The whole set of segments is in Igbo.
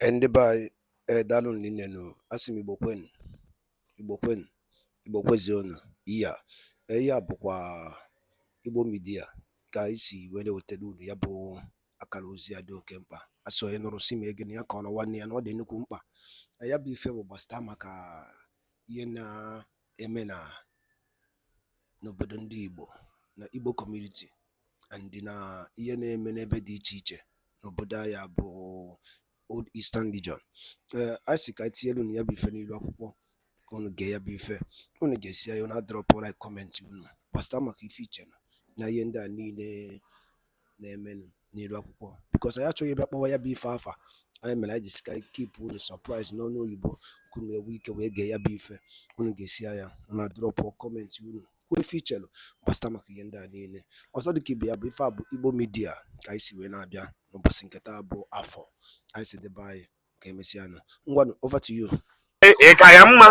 Eh, ndị be anyị ee eh, daalụ rinne nụ a sị m igbo kwenu igbo kwenu igbo kwezuonu iya eh, ihe a bụkwa igbo media ka anyị si wee na-ewetara unu ya bụ akara ozi a dị oke mkpa a sị onye nụrụ sị mee gịnị ya kọọrọ nwanne ya na ọ dị nnukwu mkpa ya bụ ife bụ gbasịta maka ihe na eme na n'obodo ndị Igbo na Igbo community and na ihe na-eme n'ebe dị iche iche n'obodo anyị a bụ Old Eastern Region ee a sị ka anyị tinyelu unu ya bụ ife n'ilu akwụkwọ ka unu gee ya bụ ife unu gesịa ya unu adrọpụ like kọmentị unu gbasịta maka ife i che na na ihe ndị a niile na-emenụ n'ilu akwụkwọ because anyị achọghị ịbịa kpọwa ya bụ ife afa nya mere anyị ji sị ka anyị kipụ unu surprise n'ọnụ oyibo ka unu enwee ike wee gee ya bụ ife unu gesịa ya unu adrọpụ kọmentị unu kwuo ife i chelu gbasịta maka ihe ndị a niile ọzọ dịka ibe ya bụ ife a bụ igbo media ka anyị si wee na-abịa n'ụbọchị nke taa bụ afọ anyị sị ndị be anyị ka emesịa nụ ngwanụ over to you ị ka ya mma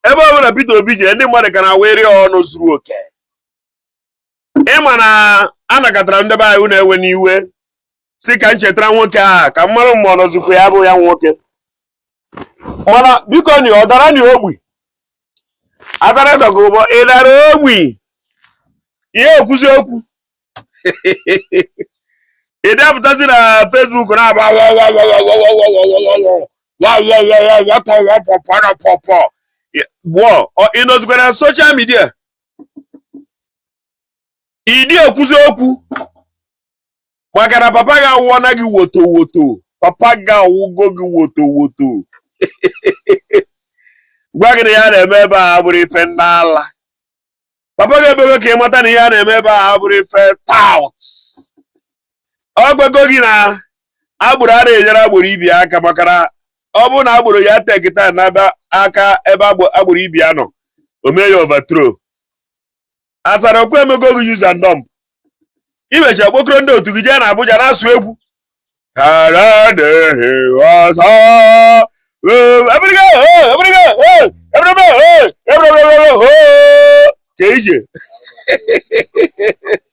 ebe ọ bụla Peter Obi jee ndị mmadụ ka na-enwere ọṅụ zuru oke ị ma na a nọkatara ndị be anyị unu ewena iwe sị ka m chetara nwoke a ka m mara ma ọ nọzikwa ya bụ ya nwoke mana biko ni ọ dara ni ogbi Asari Dokubo ị dara ogbi ị dị ekwuzi okwu ị dị apụtazi na Facebook na-aba pụọ ị nọzikwa na social media ị dị ekwuzi okwu maka na papa gị awụọna gị woto woto papa gị awụgo gị woto woto gwa gị na ihe a na-eme ebe a abụrọ ife ndị ala papa gị emego ka ị mata na ihe a na-eme ebe a abụrọ ife tout ọ gwago gị na agboro ana enyere agboro ibe ya aka maka na ọ bụrụ na agboro ya tekịta na-aba aka ebe agboro ibe ya nọ o mee ya overthrow Asari Dokubo e mego gị use and dump ị mechaa kpokọrọ ndị otu gị jee na Abuja na-asụ egwu ka ije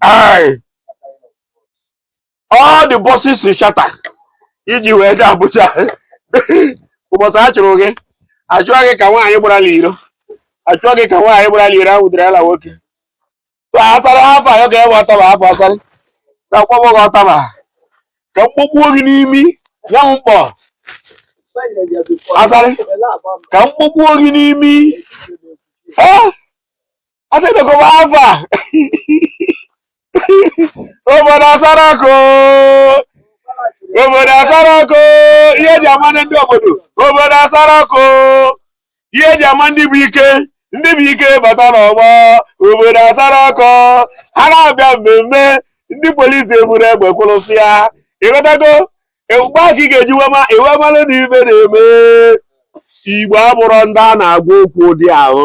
Aye. All the buses ị charter. I ji wee jee Abuja. Ụbọchị a chụrụ gị, achụọ gị ka nwaanyị gbara n'iro. Achụọ gị ka nwaanyị gbara n'iro ahụ dịrị ala nwoke. So Asari afọ a, ọ ga-ewe ọtaba afọ Asari. Ka m kpọgbuo gị ọtaba. Ka m kpọgbuo gị n'imi. Ya m mkpọ. Asari. Ka m kpọgbuo gị n'imi. Eh? adịnụgo m afọ a obodo asara ọkụ obodo asara ọkụ ihe eji ama ndị obodo obodo asara ọkụ ihe eji ama ndị bụ ike ndị bụ ike bata n'ọgbọ obodo asara ọkụ ha na-abịa mmemme ndị polisi eburu egbe kwụrụsịa ịghọtago mgbe ahụ ka ị ga-eji wema iwe malụ na ife na-eme Igbo abụrọ ndị a na-agwa okwu ụdị ahụ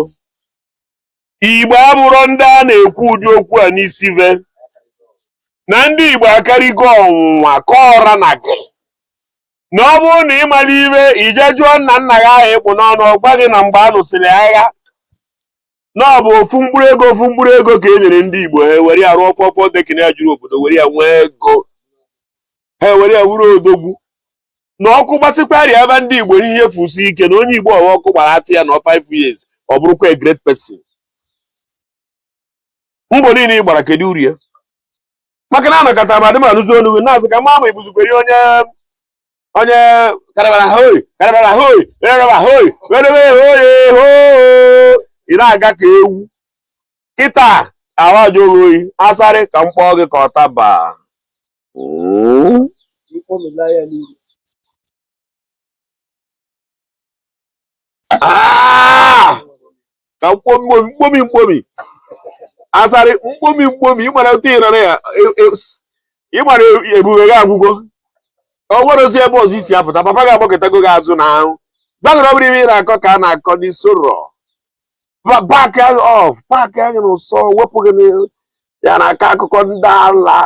Igbo abụrọ ndị a na-ekwu ụdị okwu a n'isi ve na ndị Igbo akarịgo ọnwụnwa ka ọra na gị na ọ bụrụ na ị mara ife ị jee jụọ nna nna gị ahụ ị kpụ n'ọnụ ọ gwa gị na mgbe a lụsịrị agha na ọ bụ ofu mkpụrụ ego ofu mkpụrụ ego ka e nyere ndị Igbo ha were ya rụọ four four decking ya juru obodo were ya nwee ego ha ewere ya wuru odogwu na ọkụ gbasịkwarị ebe ndị igbo ihe fusi ike na onye igbo ọwa ọkụ gbara atụ ya na 5 years ọ bụrụkwa a great person mbọ niile ị gbara kedu uru ya maka na anọkata m adị m anụzi olu gị na-azụ ka m ma ma ị bụzikwara onye onye karabara hoi karabara hoi karabara hoi werewe hoi hoo ị na-aga ka ewu kịta ahụ ajụ gị oyi Asari ka m kpọọ gị ka ọ taba Ah! ka mkpomi mkpomi mkpomi Asari mkpomi mkpomi ịmara otu ị nara ya e- e- s- ịmara ebube gị agwụgo o nwerọzi ebe ọzọ ị si apụta papa gị agbakụtago gị azụ na ahụ gbagoro ọ bụrụ ihe ị na-akọ ka a na-akọ n'isoro paakịa gị off paakịa gị na ụsọ wepụ gị n'ihu ya na aka akụkọ ndị ala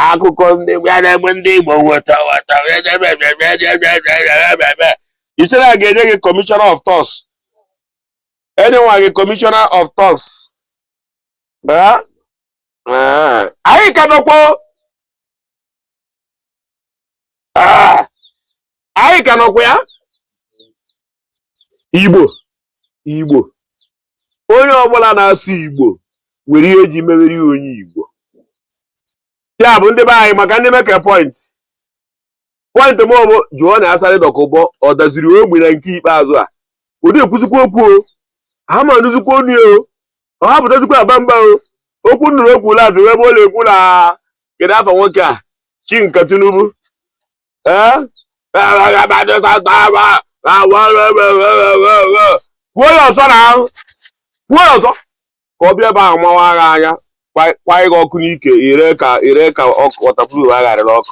akụkọ ndị ya na-egbe ndị igbo weta weta i chere a ga-enye gị commissioner of thugs enyenwa gị commissioner of thugs anyị ka nọkwa ah! anyị ka nọkwa ya igbo igbo onye ọbụla na-asụ igbo nwere ihe eji mewere ya onye igbo ya bụ ndị be anyị maka ndị make point point m bụ jụọ na Asari Dokubo ọ daziri ogbi na nke ikpeazụ a ọ dị ekwuzikwa okwu o ha ma anụzikwa onu o ọ hapụtazikwa aba mba o okwu nụrụ okwu ụlọ azụ ebe ọ na-ekwu na kedu afa nwoke a chi nke Tinubu ee kwuo ya ọzọ na ahụ kwuo ya ọzọ ka ọ bịa ebe ahụ mawa agha anya kwa ịga ọkụ n'ike ire ka ire ka ọkụ wọtapụrụ agharịrị ọkụ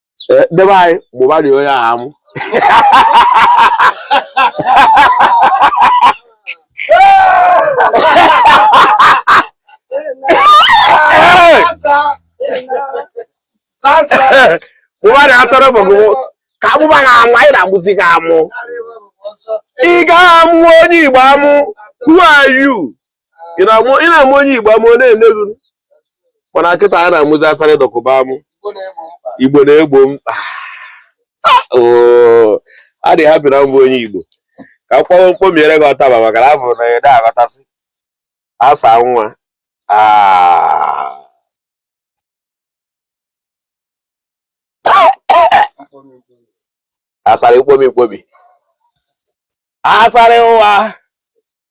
Eh, debe anyị gbụba dị onye ahụ amụ gbụba dị atọrọ bụgụ ka agbụba gị amụ anyị na-agbụzi gị amụ ị ga-amụ onye igbo amụ who are you ị na-amụ ị na-amụ onye igbo amụ ọ na-eneghu mana kịta a na-amụzi Asari Dokubo amụ igbo na-egbo mkpa Oo, a dị happy na m bụ onye igbo ka m kpọọ mkpomiere gị ọtaba maka na abụ na ya da aghọtasị asa nwa Ah. Asari ikpomi ikpomi Asari ụwa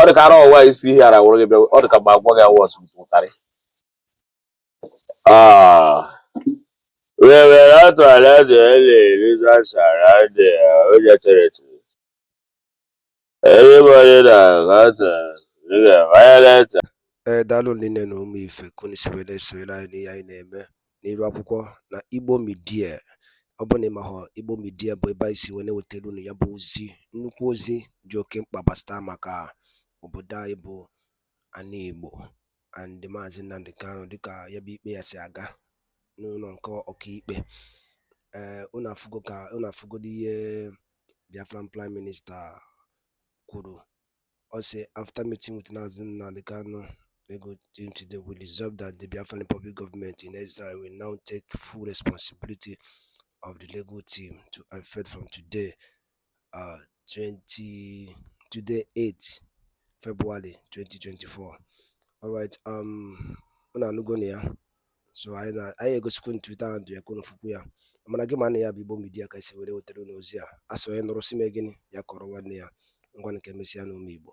ọ dị ka ara ọwa isi ihe ara wụrụ gị bịa ọ dị ka mgbe agwọ gị awụ ọsụ ụtarị wewere atụ ala dị ele eliza sara dị ojetereti everybody na gata ga-amayaleta ee daalụ rinne nụ ụmụ ife ka unu si wee na-esonyere anyị n'ihe anyị na-eme n'iru akwụkwọ na Igbo Media ọ bụrụ na ị mahọ Igbo Media bụ ebe anyị si wee na-ewetara unu ya bụ ozi nnukwu ozi dị oke mkpa gbasata maka obodo anyị bụ ana Igbo and Maazị Nnamdi Kanu dịka ya bụ ikpe ya si aga n'ụlọ nke ọkaikpe ee eh, unu afụgodo ihe Biafran Prime Minister kwuru Ọ sị after meeting with Mazi Nnamdi Kanu, we go into the we resolve that the Biafran Republic government in exile will now take full responsibility of the legal team to effect from today, uh, 20, today 8 February 2024. All right, um, unu anụgo na ya. so anyị egosikwu unu Twitter handle ya ka unu fụkwu ya mana gị ma na ya bụ Igbo Media ka e si were wetara unu ozi a a sị onye nụrụ sị mee gịnị ya kọrọ nwanne ya ngwanụ ka emesịa nụ ụmụ Igbo